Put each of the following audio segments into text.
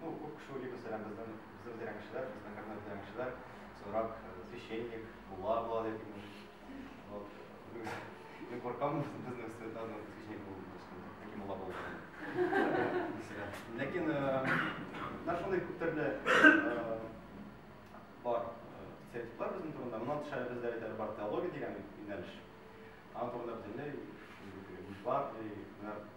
Ну, күп кеше уйлый, мәсәлән, безнең, безнең бетерән кешеләр, безнең кабинет бетерән кешеләр, соңрак священник, мулла була дип имеш. Вот. Мин куркам, безнең студентлар белән священник булу өчен, яки мулла булу өчен. Ләкин, менә шундый күп төрле бар стереотиплар безнең турында. Моннан тыш әле бездә бит әле бар теология дигән юнәлеш. Аның турында бөтенләй, мифлар, менә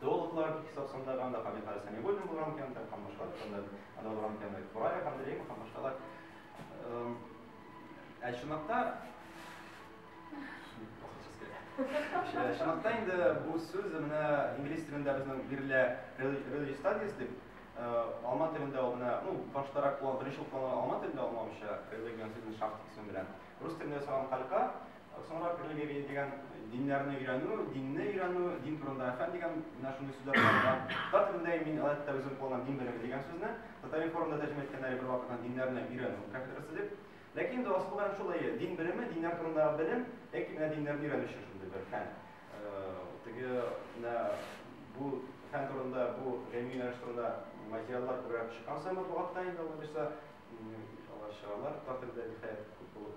Теологлар бик хисап санда ганда Хабибхалил Сәмигуллин булган икән, икән, һәм башка анда анда булган икән, Брая һәм Дреймов һәм башкалар. Ә чынлыкта Чынлыкта инде бу сүз менә инглиз телендә безнең бирелә religious studies дип, алма телендә ул менә, ну, баштарак куллан, беренче куллану алма телендә алма мичә, religion сүзен шактик сүндерә. Рус телендә салам калька, Соңрак религия дигән диннәрне өйрәнү, динне өйрәнү, дин турында фән дигән менә шундый сүзләр бар. Татар телендә мин әлбәттә үзем кулланам дин белеме дигән сүзне. Татар информда тәрҗемә иткәннәре бер вакытта диннәрне өйрәнү кафедрасы дип. Ләкин инде асыл гамәл шулай, дин белеме, диннәр турында белем, яки менә диннәрне өйрәнү өчен шундый бер фән. Теге менә бу фән турында, бу гыйльми юнәлеш турында материаллар күбрәк чыккан саен матбугатта инде алар чыгалар, татар телендә ниһаять күп булып.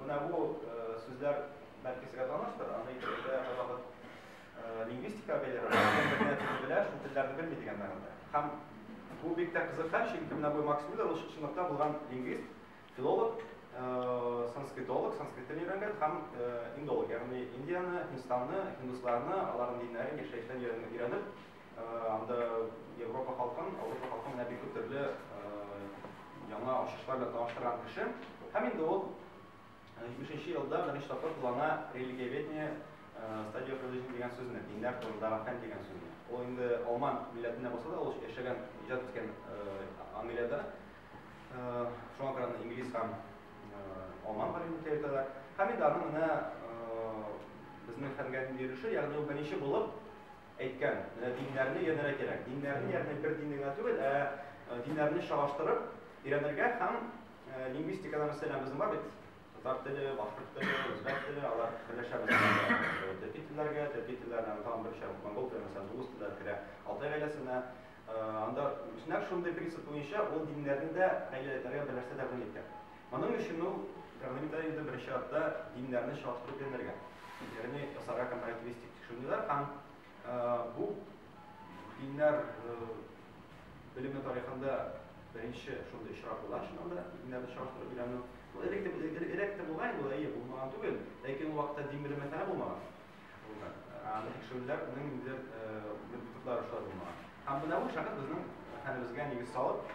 Менә бу сүзләр бәлки сезгә таныштыр, аны икенчедә язабыз. Лингвистика бәйләре, бер телне белә, шул телләрне белми дигән мәгънәдә. Һәм бу бик тә кызыкһын, чөнки менә бу Макс Миллер ул чынлыкта булган лингвист, филолог, санскритолог, санскрит телен өйрәнгән һәм индолог, ягъни Индияне, Һиндстанны, һиндусларны, аларның диннәрен, яшәешләрен өйрәнеп, Анда Европа халкын, Европа халкын менә бик күп төрле яңа ачышлар белән таныштырган кеше. Һәм инде ул 70-нче елда беренче тапкыр куллана религиоведение стадия религион дигән сүзне, диннәр турындагы фән дигән сүзне. Ул инде алман милләтенә булса да, ул яшәгән, иҗат иткән Англиядә. Шуңа күрә аны инглиз һәм алман галиме дип әйтәләр. Һәм инде аның менә безнең фәнгә нинди өлеше, ягъни ул беренче булып Әйткән, менә диннәрне өйрәнергә кирәк. Диннәрне, ягъни бер динне генә түгел, ә э, диннәрне чагыштырып өйрәнергә һәм э, лингвистикада мәсәлән безнең бар бит татар теле, башкорт теле, үзбәк теле, алар берләшә төрки телләргә, төрки телләрдән тагын бер чам монгол теле, мәсәлән, дуңгыз телләре керә. Алтай гаиләсенә э, анда үсмер шундый принцип буенча ул диннәрне дә гаиләләргә берләштерә белгән икән. Моның өчен ул гармонида инде беренче чиратта диннәрне чагыштырып өйрәнергә, ягъни ясарга компаративистик тикшеренүләр һәм бу диннәр белеме тарихында беренче шундый очрак була, чыннан да диннәрне чагыштырып өйрәнү. Бу элек тә элек тә булган инде, әйе, булмаган түгел, ләкин ул вакытта дин белеме фәне булмаган. Булган. Аны тикшерүләр моның инде методлары шулай булмаган. Һәм менә бу шәхес безнең хәлебезгә нигез салып,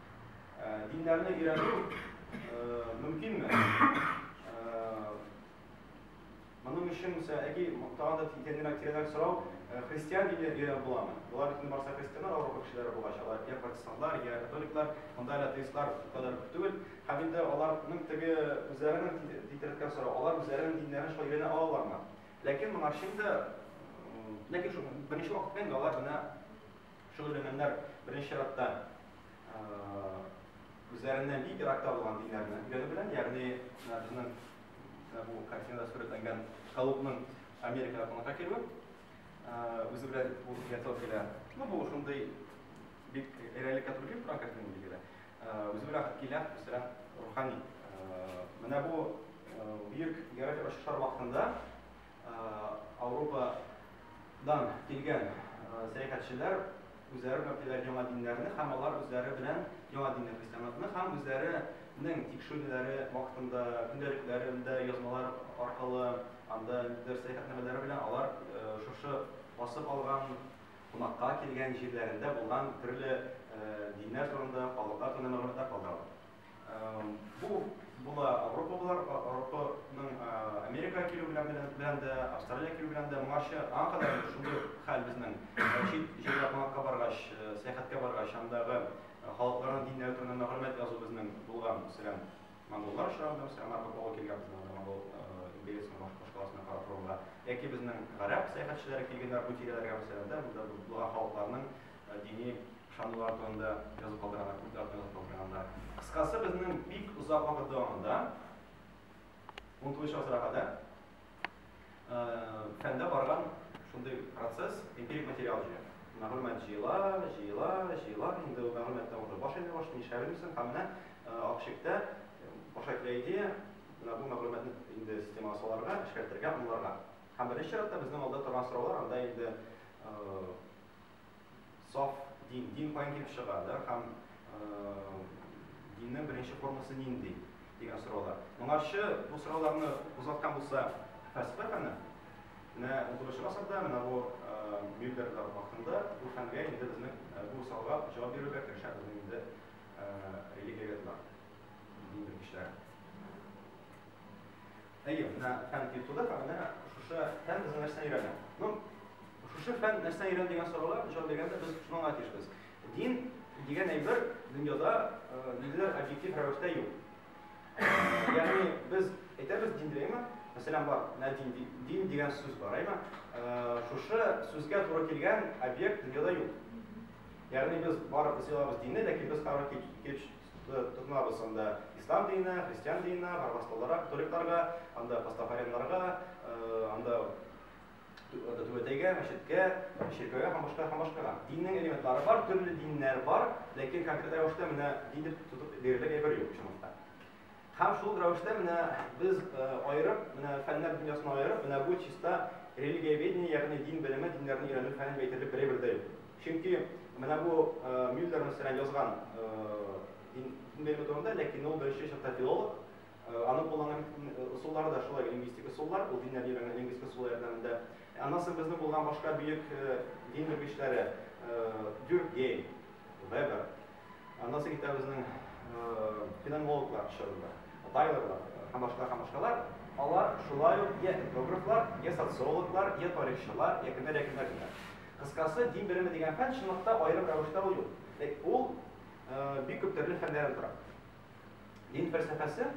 Диннәрне өйрәнү мөмкинме? Моның өчен исә әги тагын да тиңдәнрәк тирәнрәк сорау, христиан дине өйрәнеп буламы? Болар бит барса христианнар авыру кешеләре булгач, алар я протестантлар, я католиклар, монда әле атеистлар кадәр күп түгел. Һәм инде аларның теге үзләренең тиңдәнрәк сорау, алар үзләренең диннәрен шулай өйрәнә алалармы? Ләкин моңарчы инде ләкин шул беренче вакытта инде алар менә Шөгыльләнгәннәр беренче чиратта үзләреннән бик еракта булган диннәрне өйрәнү белән, ягъни безнең бу картинада сурәтләнгән Колумбның Америкага кунакка килүе үзе белән бу фиатор килә. Ну, бу шундый бик реаликә туры килеп торган картина билгеле. Үзе белән килә үстерә рухани. Менә бу бөек географик очышлар вакытында Ауропадан килгән сәяхәтчеләр үзләре белән китерәләр яңа диннәрне һәм алар үзләре белән яңа динне христианлыкны һәм үзләренең тикшерүләре вакытында көндәлекләрендә язмалар аркылы анда дөрес сәяхәтнамәләре белән алар шушы басып алган кунакка килгән җирләрендә булган төрле диннәр турында, халыклар турында мәгълүматлар калдыралар. Бу була Авропалылар, Авропаның Америка килү белән белән дә, Австралия килү белән дә моңарчы аңа кадәр шундый хәл безнең. Чит җиргә кунакка баргач, сәяхәткә баргач, андагы халыкларның диннәре турында мәгълүмат язу безнең булган. Мәсәлән, монголлар чорында, мәсәлән, Марко Поло килгән безнең анда монгол империясының башкаласына карап торырга. Яки безнең гарәп сәяхәтчеләре килгәннәр бу тирәләргә, мәсәлән, дә, монда булган халыкларның Дини ышанулар турында язып калдырганнар, культлар турында язып калдырганнар. Кыскасы, безнең бик озак вакыт дәвамында, 19 гасырга кадәр, фәндә барган шундый процесс, эмпирик материал җыя. Мәгълүмат җыела, җыела, җыела, инде ул мәгълүматтан уже баш әйләнә башлый, нишләп белмисең, һәм менә акчыкта баша килә идея, менә бу мәгълүматны инде системага салырга, эшкәртергә, аңларга. Һәм беренче чиратта безнең алда торган сораулар анда инде саф дин, дин каян килеп чыга, да, һәм диннең беренче формасы нинди дигән сораулар. Моңарчы бу сорауларны кузгаткан булса фәлсәфәне, менә 19 гасырда менә бу Мюллерлар вакытында бу фәнгә инде безнең бу сорауга җавап бирергә керешә безнең инде религиоведлар, дин белгечләре. Әйе, менә фән килеп туды һәм менә шушы фән безнең нәрсәне өйрәнә. Ну, шушы фән нәрсәне өйрәнә дигән сорауга җавап биргәндә без шуңа тиешбез. Дин дигән әйбер дөньяда ниндидер объектив рәвештә юк. Ягъни без әйтәбез дин димме? Мәсәлән, бар, менә дин, дин дигән сүз бар, әйме? Шушы сүзгә туры килгән объект дөньяда юк. Ягъни без барыбыз елабыз динне, ләкин без карар килеп Тотынабыз анда ислам диненә, христиан диненә, гарвастолара, католикларга, анда пастафареннарга, анда түбәтәйгә, мәчеткә, чиркәүгә һәм башка һәм башкага. Диннең элементлары бар, төрле диннәр бар, ләкин конкрет рәвештә менә дин дип тотып бирерлек әйбер юк чынлыкта. Һәм шул ук рәвештә менә без аерып, менә фәннәр дөньясына аерып, менә бу чиста религиоведение, ягъни дин белеме, диннәрне өйрәнү фәне дип әйтерлек берәй бер дәлил. Чөнки менә бу Мюллер мәсәлән язган дин белеме турында, ләкин ул беренче чакта филолог, аның кулланган ысуллары да шулай лингвистик ысуллар, ул диннәрне өйрәнгән лингвистик ысуллар ярдәмендә. Аннан соң безнең булган башка бөек дин белгечләре Дюркгейм, Вебер, Аннан соң китә безнең феноменологлар чорында. Тайлорлар һәм башка һәм башкалар. Алар шулай ук йә этнографлар, йә социологлар, йә тарихчылар, йә кемнәр, йә кемнәр, кемнәр. Кыскасы, дин белеме дигән фән, чынлыкта, аерым рәвештә ул юк. Ул бик күп төрле фәннәрдән тора. Дин фәлсәфәсе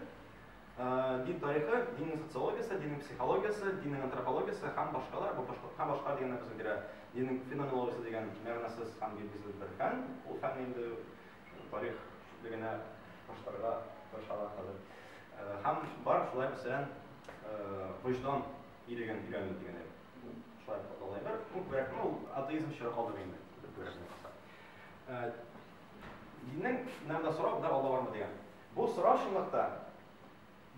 Дин тарихы, диннең социологиясе, диннең психологиясе, диннең антропологиясе һәм башкалар, бу башка һәм башка дигәннәр безгә бирә. Диннең феноменологиясе дигән мәгънәсез һәм билгесез бер фән. Ул фәнне инде тарих чүплегенә ташларга тырышалар хәзер. Һәм бар шулай мәсәлән, вөҗдан иреген өйрәнү дигән шулай аталган бер күбрәк, ну, атеизм чоры калдыгы инде. Диннең нәрдә сорау, да Алла бармы дигән. Бу сорау чынлыктан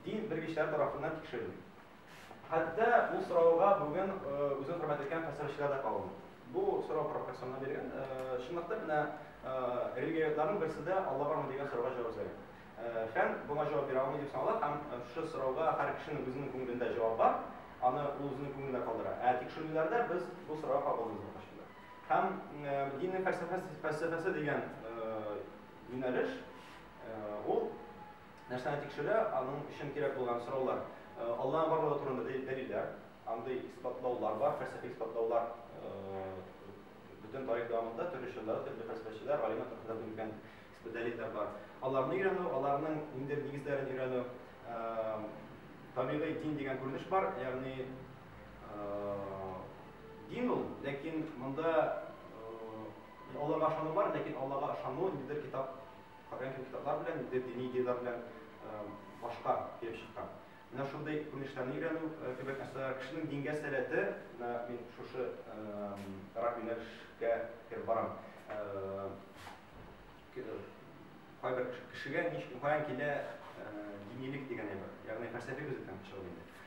дин белгечләре тарафыннан тикшерелми. Хәтта бу сорауга бүген үзен хөрмәт иткән фәлсәфәчеләр дә кагылмый. Бу сорау провокационлы бирелгән. Чынлыкта менә религиоведларның берсе дә Алла бармы дигән сорауга җавап эзләгән. Фән моңа җавап бирә алмый дип санала һәм шушы сорауга һәр кешенең үзенең күңелендә җавап бар, аны ул үзенең күңелендә калдыра. Ә тикшерүләрдә без бу сорауга кагылмыйбыз дип аңлашылды. Һәм диннең фәлсәфәсе фәлсәфәсе дигән юнәлеш Ул нәрсәне тикшерә, аның өчен кирәк булган сораулар, Алланың барлыгы турында дәлилләр, андый исбатлаулар бар, фәлсәфи исбатлаулар бөтен тарих дәвамында төрле чорларда төрле фәлсәфәчеләр, галимнәр тарафыннан бирелгән дәлилләр бар. Аларны өйрәнү, аларның ниндидер нигезләрен өйрәнү, табигый дин дигән күренеш бар, ягъни дин ул, ләкин монда Аллага ышану бар, ләкин Аллага ышану ниндидер китап Калган кандидатлар белән инде дини идеяләр белән башка килеп чыккан. Менә шундый күренешләрне өйрәнү кебек нәрсәләр кешенең дингә сәләте, менә мин шушы рак юнәлешкә кереп барам. Кайбер кешегә ничек каян килә динилек дигән әйбер, ягъни фәлсәфи күзлектән чыгып инде.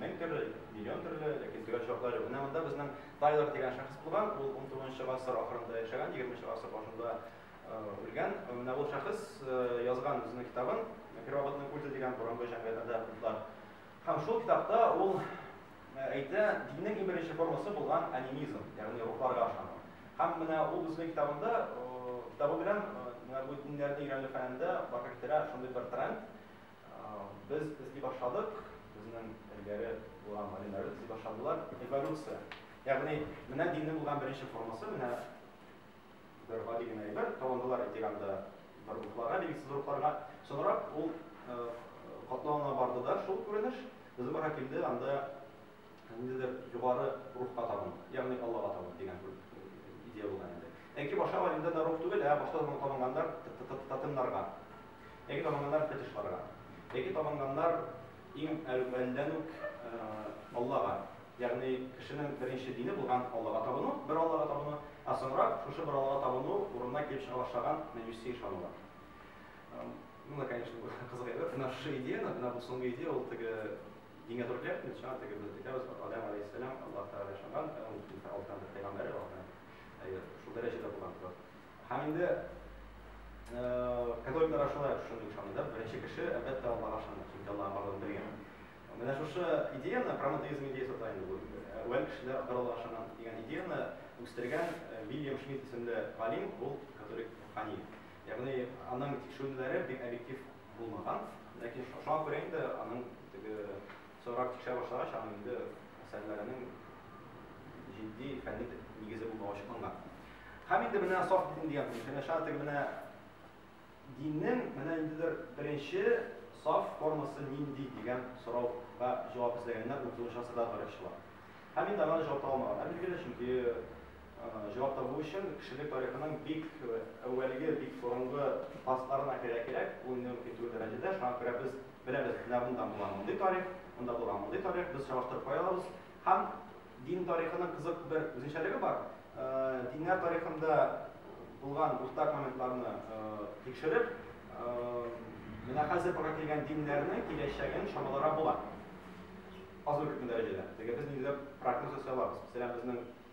Мең төрле, миллион төрле, ләкин төгәл җаваплар юк. Менә монда безнең Тайлер дигән шәхес булган, ул 19 гасыр ахырында яшәгән, 20 гасыр башында үлгән. Менә ул шәхес язган үзенең китабын, Первобытный культы дигән борынгы җәмгыятьләрдә культлар. Һәм шул китапта ул әйтә, диннең иң беренче формасы булган анимизм, ягъни рухларга ышану. Һәм менә ул үзенең китабында, китабы белән менә бу диннәрне өйрәнү фәнендә барга китерә шундый бер тренд, Без эзли башладык, безнең элгәре булган галимнәр эзли башладылар, эволюция. Ягъни, менә диннең булган беренче формасы, менә бер гади генә әйбер, табындылар итиганда бер рухларга, билгесез рухларга. Соңрак ул катлаулана барды да шул күренеш, безнең бара килде, анда ниндидер югары рухка табын, ягъни Аллага табын дигән бер идея булган инде. Әнки башы галимдә дә рух түгел, ә башта табын табынганнар татымнарга. Әнки табынганнар фетишларга. Әнки табынганнар иң әүвәлдән үк Аллага, ягъни кешенең беренче дине булган Аллага табыну, бер Аллага табыну, ә соңрак шушы бер Аллага табыну урынына килеп чыга башлаган мәҗүси ышанулар. Бу, конечно, кызык әйбер. Менә шушы идеяне, менә бу соңгы идея ул теге Дингә туры килә бит инде, чыннан теге без әйтәбез, Адәм галәйһиссәлам Аллаһ Тәгалә ышанган, ә ул Фиргавен Аллаһның бер пәйгамбәре, Аллаһның, әйе, шул дәрәҗәдә булган зат. Һәм инде католиклар да шулай шундый ышанды да, беренче кеше, әлбәттә, Аллаһка ышанды, чөнки Аллаһ барлыгын белгән. Менә шушы идеяны, проматеизм идеясы да инде бу, әүвәл кешеләр бер Аллаһка ышанган дигән идеяны үстергән Вильям Шмидт исемле галим, ул католик рухани. Ягъни аның тикшерүләре бик объектив булмаган, ләкин шуңа күрә инде аның теге соңрак тикшерә башлагач, аның инде әсәрләренең җитди фәнни нигезе булмавы ачыкланган. Һәм инде менә саф дин дигән күренеш, менә шуңа теге менә диннең менә ниндидер беренче саф формасы нинди дигән сорауга җавап эзләгәннәр 30 гасырда тарихчылар. Һәм инде аңа да җавап таба алмаган. Ә билгеле, чөнки Җавап табу өчен кешелек тарихының бик әүвәлге, бик борынгы фазларына керә кирәк, бу инде мөмкин түгел дәрәҗәдә, шуңа күрә без беләбез, менә монда булган мондый тарих, монда булган мондый тарих, без чагыштырып карый алабыз. Һәм дин тарихының кызык бер үзенчәлеге бар, диннәр тарихында булган уртак моментларны тикшереп, менә хәзер бара килгән диннәрнең киләчәген чамаларга була, аз-ул күпме дәрәҗәдә, теге без нигездә прогноз ясый алабыз, мәсәлән, безнең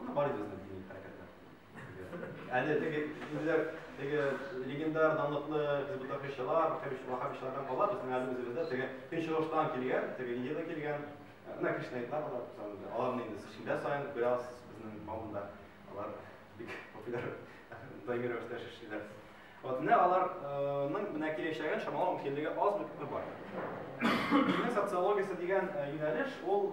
Ана бар иде үзенең дини хәрәкәтләр. Әле теге үзләр теге легендар данлыклы хизбутахичылар, вахабичлардан кала безнең әле үзебездә теге көнчыгыштан килгән, теге Индиядән килгән, менә кришнаитлар бар, аларны инде шимбә саен бераз безнең кавымда алар бик популяр даими рәвештә яшәшчеләр. Вот менә аларның менә киләчәген чамалау мөмкинлеге аз бер бар. Социология дигән юнәлеш ул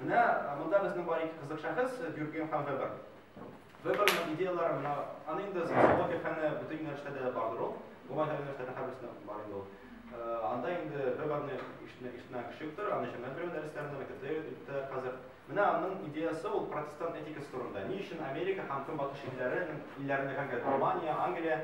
Менә монда безнең бар ике кызык шәхес, Дюрген һәм Вебер. Веберның идеялары менә аны инде социология фәне бөтен юнәлештәдә бардыр ул. Уңай юнәлештәдә һәрберсендә бар инде ул. Анда инде Веберны ишетмә ишетмә кеше юктыр, аны җәмәгать белем дәресләрендә, мәктәптә йөртәләр хәзер. Менә аның идеясы ул протестант этикасы турында. Ни өчен Америка һәм Көнбатыш илләре илләрендә конкрет Германия, Англия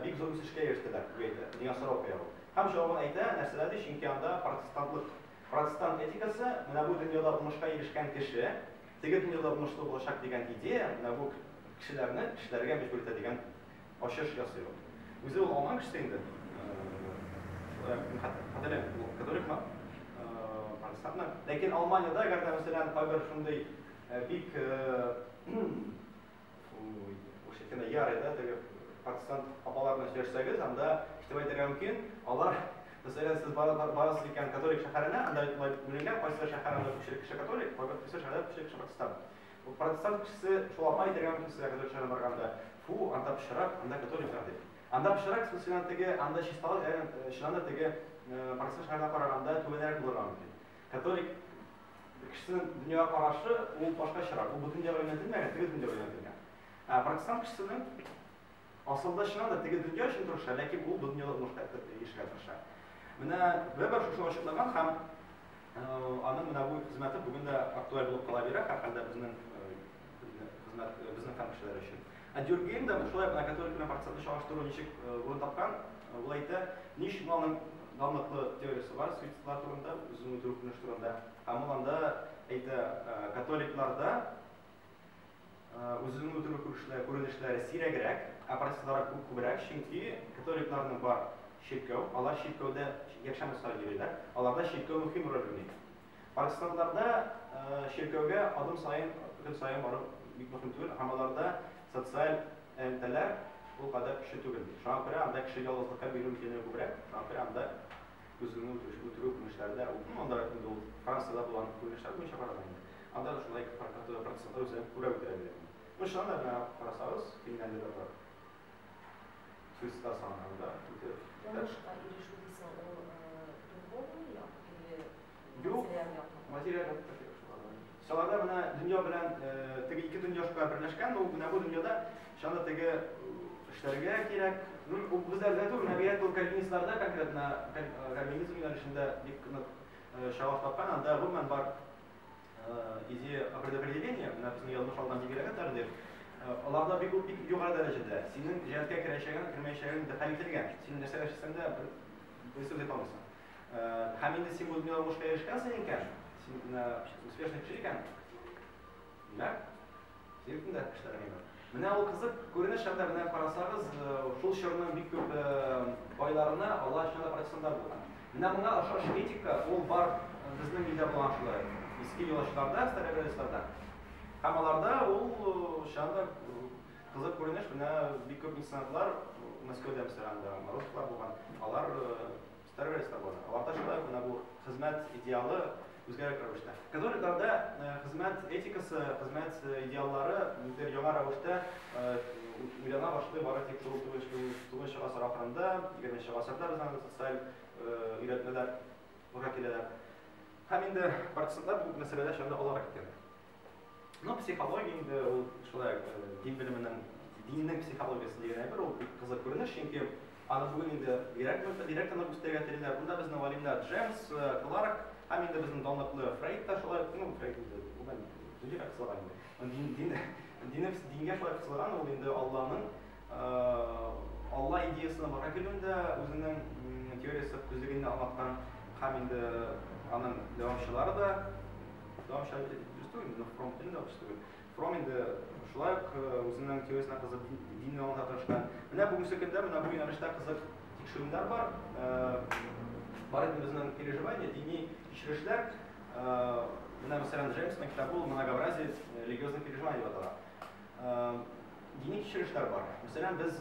бик зур үсешкә ирештеләр, дип әйтә. Дигән сорау куя ул. Һәм җавабын әйтә, нәрсәдә ди, чөнки анда протестантлык Протестант этикасы, менә бу дөньяда уңышка ирешкән кеше, теге дөньяда уңышлы булачак дигән идея, менә бу кешеләрне эшләргә мәҗбүр итә дигән ачыш ясый ул. Үзе ул алган кеше инде. Хәтерләмим, ул католикмы, протестантмы. Ләкин Алманиядә, әгәр дә мәсәлән, кайбер шундый бик Уж әйтәләр, ярый да, теге протестант апалар белән сөйләшсәгез, анда ишетеп әйтергә мөмкин, алар Мәсәлән, сез барасыз икән католик шәһәренә, анда бүленгән кайсы шәһәр анда күпчелек кеше католик, кайсы шәһәрдә күпчелек кеше протестант. Бу протестант кешесе шул апа әйтергә мөмкин сезгә католик шәһәренә барганда, фу, анда пычрак, анда католиклар дип. Анда пычрак сүзенә теге, анда чисталык, чыннан да теге протестант шәһәренә караганда түбәнрәк булырга мөмкин. Католик бер кешесенең дөньяга карашы ул башкачарак, ул бу дөньяга юнәлтелмәгән, теге дөньяга юнәлтелгән. Ә протестант кешесенең асылда чыннан да теге дөнья өчен тырыша, ләкин ул бу дөньяда уңышка ирешергә тырыша. Менә Вебер шушы ачыклаган һәм аның менә бу хезмәте бүген дә актуаль булып кала бирә, һәрхәлдә безнең Безнекан кешеләр өчен. Ә Дюргейм да шулай бына католик белән процентны чагыштыру ничек урын тапкан, ул әйтә, ни өчен аның данлыклы теориясе бар суицидлар турында, үзен үтерү күренеш турында. Һәм ул анда әйтә, католикларда үзен үтерү күренешләре сирәгрәк, ә процесслары күп күбрәк, чөнки католикларның бар чиркәү, алар чиркәүдә якшәмбе саен йөриләр, аларда чиркәү мөһим роль уйный. Арестантларда чиркәүгә адым саен, көн саен бару бик мөһим түгел һәм аларда социаль элемтәләр ул кадәр көчле түгел. Шуңа күрә анда кеше ялгызлыкка бирелү мөмкинлеге күбрәк, шуңа күрә анда үзеңне үтерүче үтерү күренешләре дә ул гомумән анда инде ул Франциядә булган күренешләр буенча караганда инде анда да шулай процентлар үзләрен күбрәк үтерә дигән. Ну чыннан да, менә карасагыз, Финляндиядә бар. Христа санганда китеп. Уңышка ирешү дисең, ул духовный як или материаль як? Материаль як та кирәк шуларда. Шуларда менә дөнья белән теге ике дөнья шулай берләшкән, ул менә бу дөньяда шаны теге эшләргә кирәк. Ну, ул безләрдә түгел, мәгәр ул кальвинистларда конкретно кальвинизм юнәлешендә бик нык чагылыш тапкан, анда гомумән бар Идея предопределения, менә безнең язмыш алган дигерәгә тәкъдир, аларда бик бик югары дәрәҗәдә. Синең җәнлеккә керәчәгең, кермәячәгең дә хәл ителгән. Син нәрсә эшләсәң дә бер бер сүз әйтәлмисең. Һәм инде син бүген язмышка ирешкәнсең икән, син менә успешный кеше икән. Димәк, Сөйләдем дә кешеләр миңа. Менә ул кызык күренеш хәтта менә карасагыз, шул чорның бик күп байларына алар чын да протестантлар булган. Менә моңа ошаш этика ул бар безнең илдә булган шулай. Иске юлачларда, старообрядецларда. Һәм аларда ул чын да кызык күренеш, менә бик күп меценатлар Мәскәүдә мәсәлән, русскалар булган. Алар Второе свобода. Аларда шулай гына бу хезмәт идеалы үзгәрәк рәвештә. Католикларда э, хезмәт этикасы, хезмәт э, идеаллары бер яңа рәвештә э, уйлана башлый бары тик шул тугызынчы гасыр ахырында, егерменче гасырда безнең анда социаль өйрәтмәләр бура киләләр. Һәм инде партизаннар бу мәсьәләдә шәмдә алар киткән. Ну, психология инде ул шулай э, дин белеменең диннең психологиясе дигән әйбер ул бик кызык күренеш, чөнки аны бүген инде бигрәк бигрәк кенә үстерергә телиләр. Бунда безнең галимнәр Джеймс, э, Кларк һәм инде безнең данлыклы Фрейд та шулай ну, Фрейд инде бүген динне кысылган инде. Дин, дин, динне, дингә шулай кысылган ул инде Алланың Алла идеясына бара килүендә үзенең теориясе төзлегенне аңлаткан һәм инде аның дәвамчылары да дәвамчылар дөрес түгел, но Фром төн дә дөрес түгел. Фром инде шулай ук үзенең теориясенә кызып динне аңлата тырышкан. Менә бүгенге көндә менә бу юнәлештә кызык тикшерүләр бар. Бар инде безнең переживание, дини кичерешләр. Менә мәсәлән Джеймсның китабы ул Многообразие религиозных переживаний дип атала. Дини кичерешләр бар. Мәсәлән, без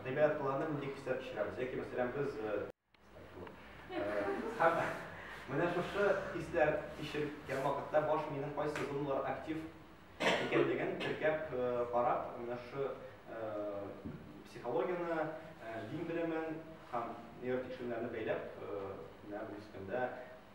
гыйбадатларны милли хистә кичерәбез. Яки, мәсәлән, без Менә шушы хисләр кичерткән вакытта баш миенең кайсы зоналар актив икәнлеген теркәп карап, менә шушы психологияне, дин белемен һәм нейротикшерүләрне бәйләп, менә бу дискләндә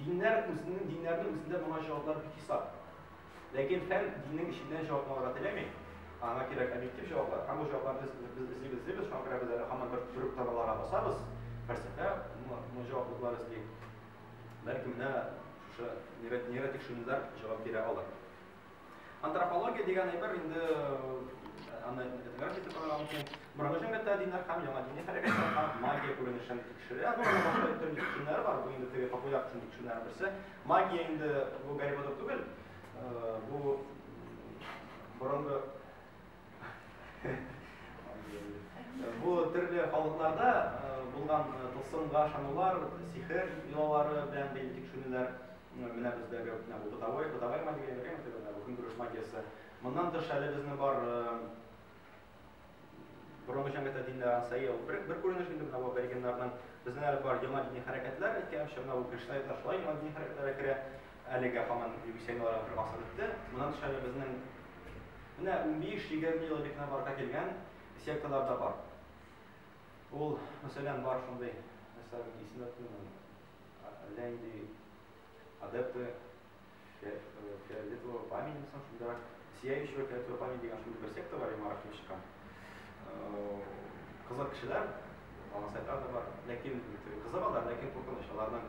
Диннәр үзенең диннәренең үзендә моңа җаваплар бик хисап. Ләкин фән диннең эченнән җавапны алырга теләми. Аңа кирәк объектив җаваплар. Һәм бу җавапларны без без эзлибез, эзлибез, шуңа күрә без әле һаман бер төрек таналарга басабыз. Фәлсәфә мо мо җаваплылыклар эзли. Бәлки менә шушы нейро нейротикшеренүләр җавап бирә алыр. Антропология дигән әйбер инде аны этнография дип атарга мөмкин. Борынгы җәмгыятьтә диннәр һәм яңа дини хәрәкәтләр һәм магия күренешен тикшерә. Бу инде башка төрле төшенчәләр бар. Бу инде теге популяр төшенчәләр берсе. Магия инде бу Гарри Поттер түгел. Бу борынгы Бу төрле халыкларда булган тылсымга ышанулар, сихер йолалары белән бәйле тикшеренүләр менә бездәге бу бытовой, бытовая магия, көнкүреш магиясе. Моннан тыш әле безнең бар борынгы җәмгыятьтә диннәр ансаи ул бер бер күренеш инде менә бу аборигеннарның. Безнең әле бар яңа дини хәрәкәтләр әйткәнчә, менә бу кешеләр ташлай яңа дини хәрәкәтләргә керә. Әлегә һаман юбисейлар бер гасыр үтте. Моннан тыш әле безнең менә унбиш-егерме ел элек кенә барлыкка килгән секталар да бар. Ул, мәсәлән, бар шундый, мәсәлән, исемләп куймыйм. Әллә инде адепты фиолетового пламени дисем, шундыйрак сияющего фиолетового пламени дигән шундый бер секта бар, Марахтан чыккан. Кызык кешеләр, аңсайтар да бар, ләкин кызык алар, ләкин куркыныч аларның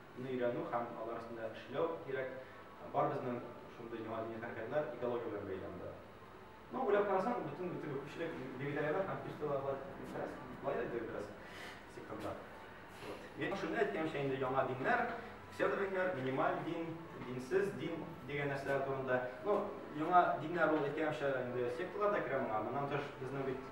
ны өйрәнү һәм алар өстендә эшләү кирәк. Барыбызның шундый яңа дини хәрәкәтләр экология белән бәйле анда. Ну, уйлап карасаң, бөтен бөтен күпчелек вегетарианнар һәм пищеводлар, нәрсә, лаер инде бераз сектантлар. Вот. Мин шуны әйткәнчә инде яңа диннәр, псевдодиннәр, минималь дин, динсез дин дигән нәрсәләр турында. Ну, яңа диннәр ул әйткәнчә инде секталар да керә моңа. Моннан тыш безнең бит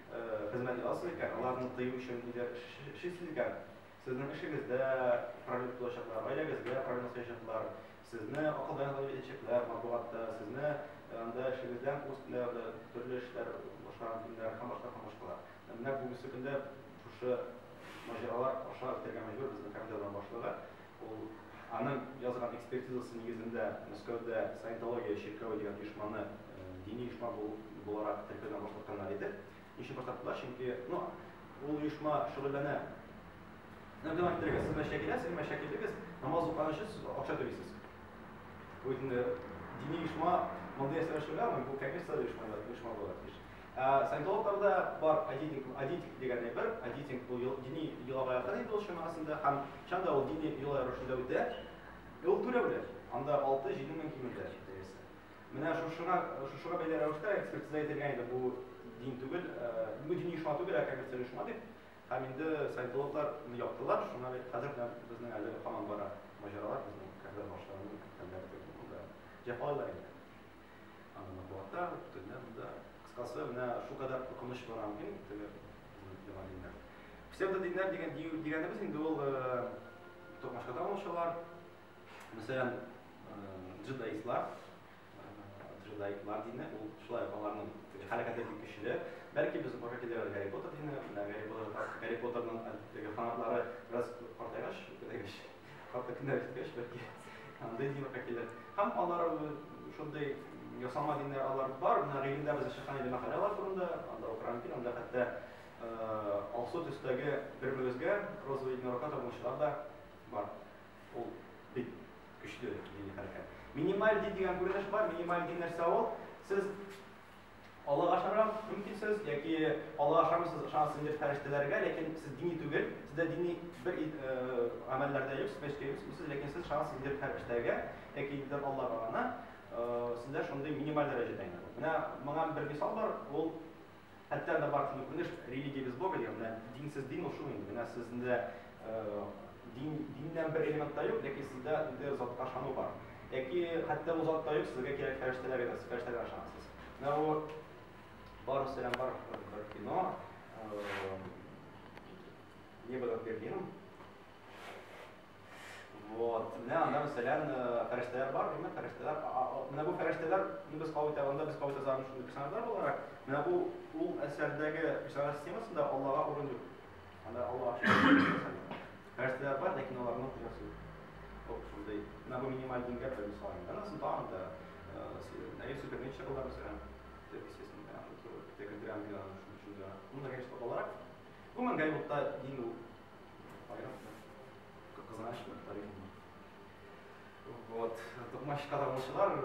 хезмәт язасыз икән, аларны тыю өчен ниләр эшлисез икән? Сезнең эшегездә проблема тудачаклар, гаиләгездә проблема сыячаклар, сезне акылдан язып итәчәкләр матбугатта, сезне анда эшегездән үстләр, төрле эшләр башкарган көннәр һәм башка һәм башкалар. Менә бүгенге көндә шушы маҗаралар аша үтәргә мәҗбүр безнең кафедраның башлыгы. Ул аның язган экспертизасы нигезендә Мәскәүдә Саентология чиркәве дигән оешманы дини оешма буларак теркәүдән башкартканнар иде. Ничек башкарттылар? Чөнки, ну, ул оешма шөгыльләнә. Ну, дәвам иттерегез. Сез мәчеткә киләсез, мәчеткә килдегез, намаз укыган өчен сез акча түлисез. Бу инде дини оешма мондый әсәр эшләгәнме? Бу, конечно, оешма буларак тиеш. Ә саентологларда бар адитинг, адитик дигән әйбер, адитинг бу дини йолага якын инде ул чамасында һәм чын да ул дини йола рәвешендә үтә. Ә ул түләүле, анда 6-7 мең кимендә дәясе. Менә шушыңа, шушыга бәйле рәвештә экспертиза ителгән инде бу дин түгел, бу дини оешма түгел, ә коммерциаль оешма дип. Һәм инде саентологлар моны яптылар, шуңа бит хәзер дә безнең әле һаман бара маҗаралар безнең кардәш башларның хәлләре дигән булды. Җәфалыйлар инде. Аны вата, төнлә монда. Кыскасы, менә шул кадәр куркыныч бар аңгы теге яңа диннәр. Псевдодиннәр дигән дигәнебез инде ул токмашкадан алучылар. Мәсәлән, джедаистлар, джедаитлар дине, ул шулай аларның хәрәкәте бик көчле. Бәлки без бара килер Гарри Поттер дине, Гарри Поттер, Гарри Поттерның теге фанатлары бераз картайгач, күтәргәч, хатта көннәр үткәч, бәлки андый динга килер. Һәм алар шундый ясалма диннәр алар бар, менә гыйлемдә бездә чыккан иде мәкаләләр турында, анда укырам кин, анда хәтта алсу төстәге бер-беребезгә розовый единорога табынучылар да бар. Ул бик көчле дини хәрәкәт. Минималь дин дигән күренеш бар, минималь дин нәрсә ул? Сез Аллага ышанырга мөмкинсез яки Аллага ышанмыйсыз, ышанасыз инде фәрештәләргә, ләкин сез дини түгел, сездә дини бер гамәлләр дә юк, мәчеткә йөрмисез, ләкин сез ышанасыз инде фәрештәгә яки инде Аллага гына, сездә шундый минималь дәрәҗәдә генә. Менә моңа бер мисал бар, ул хәтта да бар шундый күренеш религия без Бога дигән, менә динсез дин ул шул инде, менә сездә Дин, диннән бер элемент та юк, ләкин сездә үтә затка ышану бар. Яки хәтта ул зат та юк, сезгә кирәк фәрештәләр генә, сез фәрештәләргә ышанасыз. Менә бу бар сәлам бар бер кино. Не было Берлин. Вот. Менә анда мәсәлән фәрештәләр бар, димме? Фәрештәләр. Менә бу фәрештәләр, ну без кабул итәбез, без кабул итәбез шундый персонажлар буларак. Менә бу ул әсәрдәге персонаж системасында Аллага урын юк. Анда алла ашыгын. Нәрсәләр бар, ләкин аларның хуҗасы юк. Оп, шундый. Менә бу минималь дингә бер мисал. Анысын тагын да Наил Супермеча була мәсәлән. Естественно, да, шул тәкәддер ангелар шуның өчен дә. Ну, да, конечно, балалар. Гомумән, Голливудта дин ул. Аерым. Кызганыч, тарихи. Вот. Токмачка табучылар,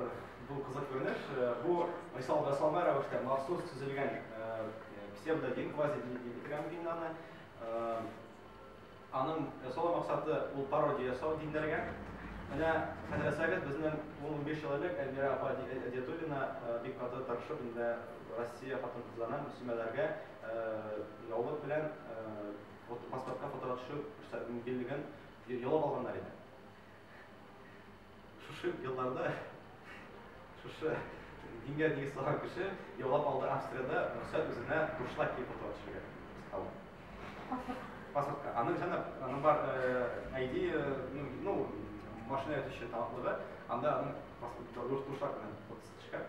бу кызык күренеш. Бу мисал ясалма рәвештә махсус төзелгән псевдодин, квазидин дип кирәм динаны. Аның ясалу максаты ул пародия ясау диннәргә. Менә хәзрәсәгез безнең 15 ел элек Әлмирә апа Әдиятуллина бик каты тырышып инде Россия хатын-кызларына мөслимәләргә яулык белән паспортка фотога төшү мөмкинлеген Яулап алганнар иде. Шушы елларда шушы дингә нигез салган кеше яулап алды Австриядә рөхсәт үзенә бушлай киеп утыра төшергә. Паспортка. Аның җана, аның бар ID, ну, машина ятучы талантлыгы, анда аның паспорты бушлай белән фотосы төшкән.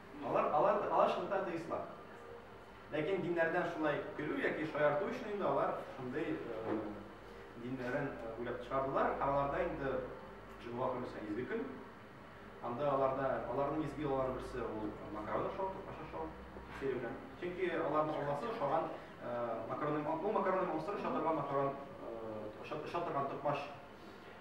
Алар, алар, алар чынлыкта атеистлар. Ләкин диннәрдән шулай көлү яки шаярту өчен инде алар шундый э, диннәрен э, уйлап чыгардылар. Һәм аларда инде җомга көне исә изге көн. Анда аларда аларның изге аллаларын берсе ул макарон ашау, тупаша ашау сыйры белән. Чөнки аларның алласы ошаган э, макарон, бу макарон монстры шатырга макарон, шатырган токмач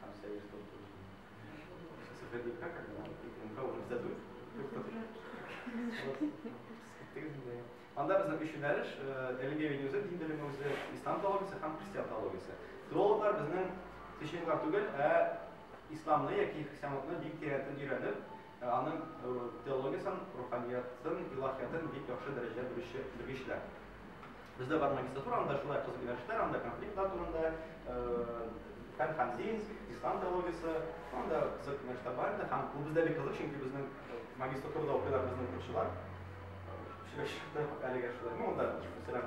Сам себя не стал тоже. Сейчас это будет как, когда он МК уже задует. Анда безнең өч юнәлеш, әлеге юнәлештә дин белеме үзе ислам теологиясе һәм христиан теологиясе. Теологлар безнең священниклар түгел, ә исламны яки христианлыкны бик тирәнтен өйрәнеп, Ә аның теологиясен, руханиятен, илаһиятен бик яхшы дәрәҗәдә белүче белгечләр. Бездә бар магистратура, анда шулай кызык юнәлешләр, анда конфликтлар турында, һәм Ханзинск, Ислам теологиясе, анда кызык юнәлешләр бар иде. Һәм бу бездә бик кызык, чөнки безнең магистратурада укыйлар безнең укучылар. Сөйләшеп чыктык әлегә шулай. Ну, анда, мәсәлән,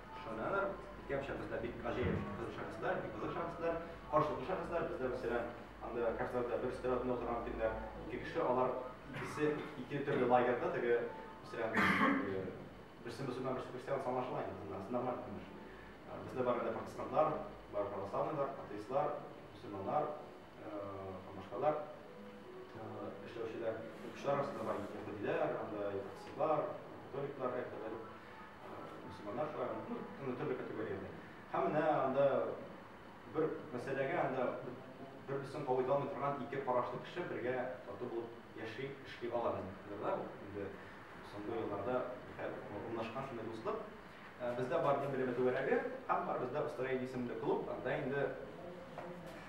Шаһнанар, икәм шәхесләр, бик гаҗәеп кызык шәхесләр, бик кызык шәхесләр, каршылыклы шәхесләр. Бездә, мәсәлән, анда кафедрада бер өстәл артында утырган көннәр ике кеше, алар икесе ике төрле лагерьда, теге, мәсәлән, э, берсе мөселман, берсе христиан, аңлашыла инде, монда сынамар күренеш. Э, Бездә бар инде протестантлар, бар православныйлар, атеистлар, мөселманнар, һәм башкалар эшләүчеләр, кеше арасында бар яһүдиләр, анда христианнар, католиклар, хәтта мусульманнар шулай, ну, төрле категорияләр. Һәм менә анда бер мәсьәләгә анда бер исем кабул алмый торган ике карашлы кеше бергә тату булып яши, эшли ала да ул. Инде соңгы елларда урнашкан шундый дуслык. Бездә бар дин белеме түгәрәге, һәм бар бездә Австралия исемле клуб, анда инде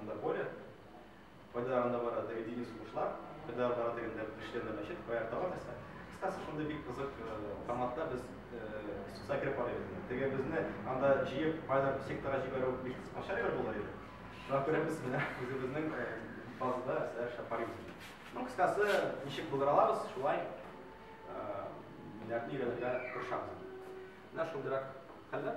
Анда поле, кайда анда бара теге дини сугышлар, кайда бара дигәндә кешеләрдә мәчет, кая тагын нәрсә. Кстати, шундый бик кызык форматта без суса кереп карыйбыз. Теге безне анда җыеп, кайда сектора җибәрү бик кыскача гына булыр иде. Шуңа күрә без менә үзебезнең базада сәр шапарибыз. Ну, кыскасы, ничек булдыра алабыз, шулай нәрне өйрәнергә тырышабыз. Менә шундыйрак хәлләр.